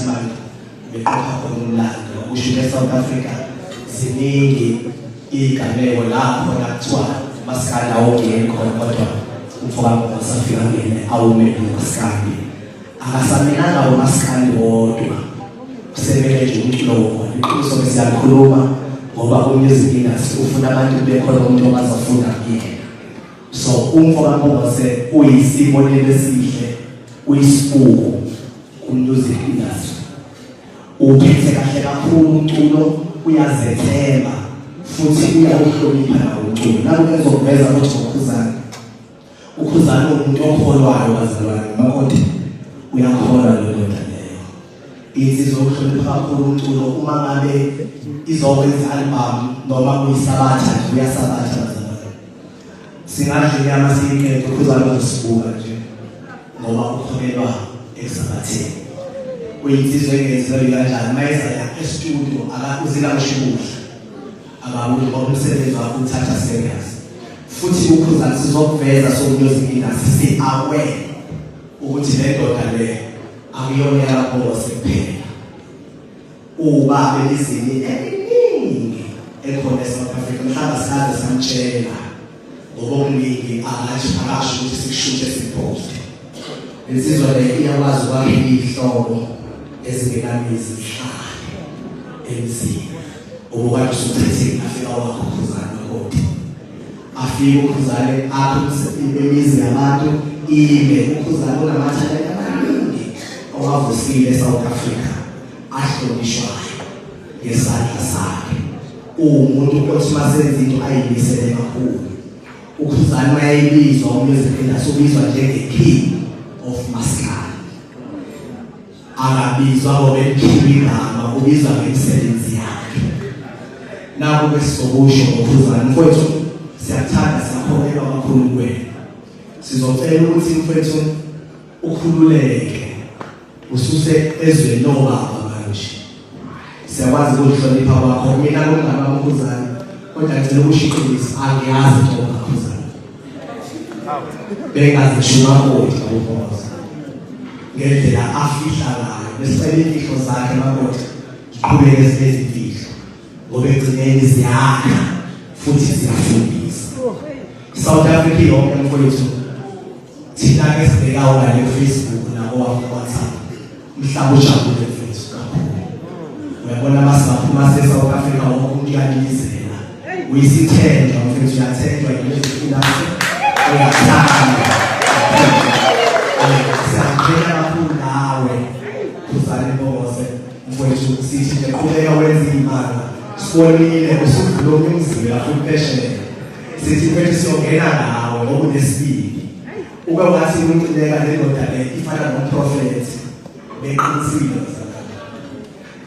Month beqopha khona umlando usho eSouth Africa ziningi igameko lapho nakuthiwa masikanda awungeni khona kodwa umfowabo wasafika ngene awumele umasikandi akasaminanga umasikandi wodwa kusemele nje umculo wona iqiniso ke siyakhuluma ngoba umusic industry ufuna abantu bekhona umuntu ongazofunda kuyena so umfowabo wase uyisibonelo esihle uyisibuko Umusic industry uphethe kahle kakhulu umculo uyazethemba futhi uyawuhlonipha nawo umculo nalo ezoveza ukuthi ngokhuzana ukhuzana umuntu okholwayo wazalwana nomakoti uyakholwa leyo nto leyo insizwa ukuhlonipha kakhulu umculo uma ngabe izokwenza album noma kuyisabatha uyasabatha singadla inyama siyiqede ukhuzana uzosibuka nje ngoba ukholelwa esabatheni uyinsizwa engenzi lelo kanjani mayezaya estudio akakuzila ushibusha akabuthi ngoba umsebenzi wakho uthatha serious futhi ukhuzana sizokuveza sokuyozikinda sisi-aware ukuthi le ndoda le akuyona yalapho wasephela Uwubambe izini eliningi ekhona eSouth Africa mhlawumbe saze samtshela ngokuningi angathi akasho ukuthi sikushuthe siposte. Insizwa le iyakwazi ukwakha iy'hlobo ezingenamizi zihlale emzini ubukade usuchithile afika wakho ukhuzane kodwa afike ukhuzane akho imizi yabantu ime ukhuzane unamathalenta amaningi owavusile eSouth Africa ahlonishwayo ngesandla sakhe uwumuntu othi masenza into ayimisele kakhulu ukhuzani mayeyibizwa umusic industry ubizwa njenge-king of maskani akabizwa ngokelikhulu igama ubizwa ngemisebenzi yakhe nako ke sizokusho ngokhuzani mfowethu siyakuthanda siyakholelwa kakhulu kuwena sizocela ukuthi mfowethu ukhululeke Ususe ezweni lobaba manje. Siyakwazi ukuhlonipha kwakho mina ngomama mkhuzane kodwa ngicela ukushiqinisa angiyazi into ngakhuzane. Bengazishuma kodwa uMoza. Ngendlela afihla ngayo besicela imfihlo zakhe makodwa ziqhubeke zibezimfihlo ngoba egcineni ziyakha futhi ziyafundisa. South Africa yonke mfowethu thina ke sibhekawo la le Facebook nabo WhatsApp mhlawumbe ujabule mfethu kakhulu uyabona masaphuma se South Africa wonke umuntu uyalilizela uyisithenjwa mfethu uyathenjwa yilezi fulase uyathanda siyaqhenya kakhulu nawe uzale bose mfethu sithi nje qhubeka wenza imali sibonile usuvula umzila futhi phesheya sithi mfethu siyongena nawe ngokunesibili ube wathi uncileka lendoda le ifana nomprofethi beqinisile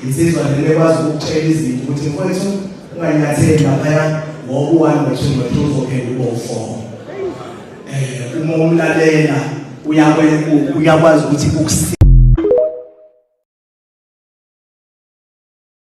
insizwa le ekwazi ukutshela izinto ukuthi mfethu unganyatheli laphaya ngoba uwani wethuni wethu uzophela ube ufomo um uma umlalela uyakwazi ukuthi ukusi